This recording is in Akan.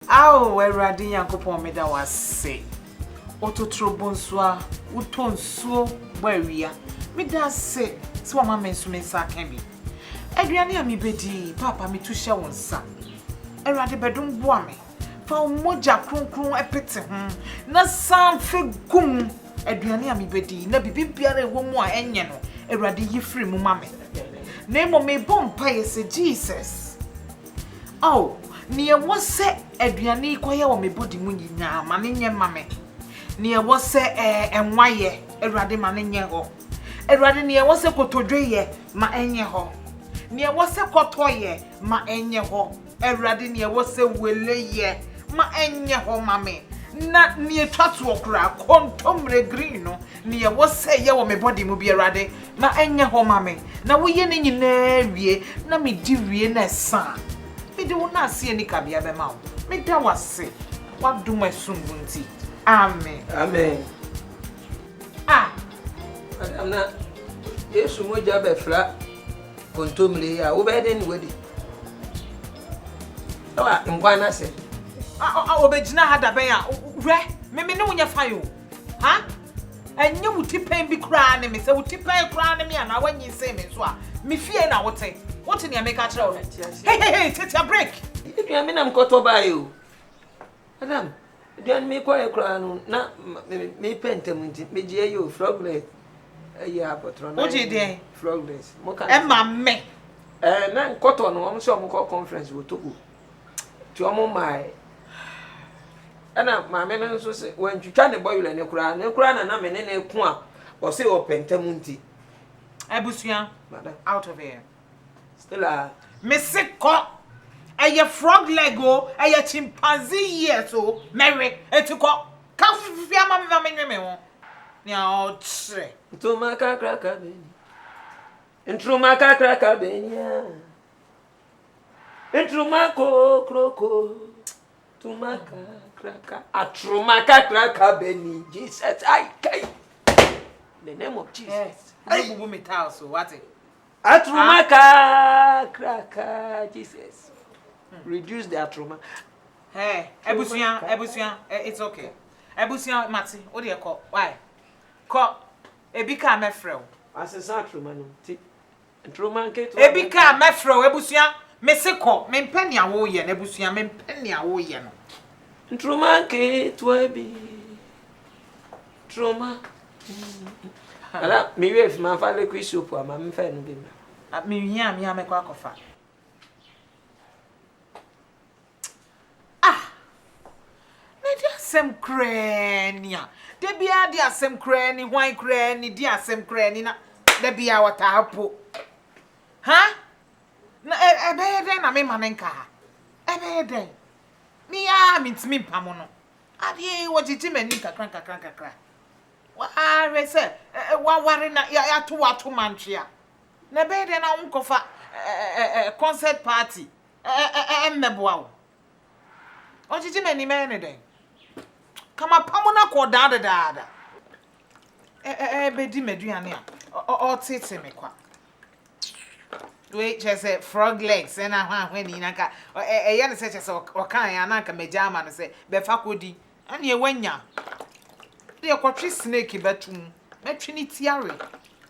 Ao Awurade Nyankopɔn meda wo ase, Ototoro bonsu a wotɔ nsuo bɔ awia, meda ase sɛ wama me nso me nsa aka bi. Aduane a mebɛdi yi, Paapa metu hyɛ wo nsa. Awurade bɛdom boa me, fa wo mogya kronkron pete ho na san fe gu mu. Aduane a mebɛdi yi na biribibiara a ɛwɔ mu a ɛnyɛ no, Awurade yi firi mu ma me. Na mmom mebɔ mpaeɛ sɛ, Jesus. Ao, nea ɛwɔ sɛ aduane yi kɔyɛ wɔ me body mu nyinaa, ma no nyɛ mma me. Nea ɛwɔ sɛ ɛɛ nwa yɛ, Awurade ma no nyɛ hɔ. Awurade, nea ɛwɔ sɛ kotodwe yɛ, ma ɛnyɛ hɔ. Nea ɛwɔ sɛ kɔtɔ yɛ, ma ɛnyɛ hɔ. Awurade, nea ɛwɔ sɛ wele yɛ, ma ɛnyɛ hɔ mma me. Na nea ɛtwa toɔ koraa, kontommire green no, Nea ɛwɔ sɛ ɛyɛ wɔ me bɔde mu biara de, na ɛnyɛ hɔ ma me, na woyɛ ne nyinaa wie, na midi wie na ɛsa a, mede wo nnaase a enni kabea bɛma wo. Meda wo ase w'adom a ɛsom bo nti. Amen. Amen. A. Madam, na Yesu mogya bɛfra kontommire yi a, wobɛyɛ dɛn ne wadi? Ɛwɔ nkwa no ase. Obegyina ha dabɛn a, hwɛ, me me ne wo nyɛ fine o. Ha? Ɛnyɛ wo tipɛn bi koraa ne me? Sɛ wo tipɛn koraa ne me anaa woanyinsɛn me nso a, me fie na wote. Wote nea meka kyerɛ wo no? Hei hei hei, Tetia break! Aduane me na mekɔtɔ baeɛ o. Madam, aduane mekɔeɛ koraa no na mepɛ ntɛm nti megyeɛ yi o, frogless ɛyɛ apɔtorɔ na wogye deɛn? Frogless. Ɛma me. Ɛɛ, na nkɔtɔ no wɔn sɛ wɔn kɔ conference wɔ Togo. Nti wɔn maae. Ɛna maame no nso se wantwitwa ne bɔwerɛ no koraa. Ne koraa na na me ne no ko a ɔse ɔpɛ ntam nti. Abusua, out of here. Stella. Me se kɔ. Ɛyɛ frog leg o, ɛyɛ chimpanzee years o, mɛwe. Nti kɔ. Ka fifi ama me ma menwe me ho. Nea ɔkyerɛ. Ntoma kakraka bɛni. Ntroma kakraka bɛni a. Ntruma kokroko, tuma kakraka, atruma kakraka bɛni Jesus ayi kai. In the name of Jesus. Ayi eh, bubu mi taal so wate. Atruma kakraka Jesus. Hmm. Reduce the atruma. Hey, ebusua, ebusua, eh, it's okay. Ebusua mati, o de ko, why? Ko, ebi ka me frɛ o. Asesa atruma no ti. Ebi ka a, mɛfrɛ wo. Abusua, me se kɔ. Mempɛ nea woreyɛ no. Abusua, mempɛ nea woreyɛ no. Ntroma nketewa bi. Ntroma. Ana me wave ma fa liquid soap ama me fa no bi ma. Menhia a me a mɛkɔ akɔfa. Ah! Na ɛde asɛm koraa ni a, da biara de asɛm koraa ni, hwan koraa ni, de asɛm koraa ni na da biara ɔtaa po. Ha? Na ɛbɛyɛ dɛn na mema no nka ha? Ɛbɛyɛ dɛn? Me ara mentumi mpamo no. Adeɛ yi wɔgyegye m'ani kakra kakra kakra. Wɔahwɛ sɛ wɔaware na yɛato wɔato mantwea. Na ɛbɛyɛ dɛn na wonkɔfa concert party mmɛboa wo. Ɔgyegye m'ani mɛyɛ ne dɛn? Ka m'apam no akɔ daa dedaada. Ɛbɛdi m'aduane a ɔtete me kwa. Wei kyerɛ sɛ frog legs ɛna ahwahwɛ ne nyina nka ɛyɛ ne sɛ kyerɛ sɛ ɔkaeɛ a na anka magya ama no sɛ bɛfa kɔdi. Ɛneɛ woanya. Deɛ kɔtwe snake bɛto mu. Mɛtwe ne ti awe.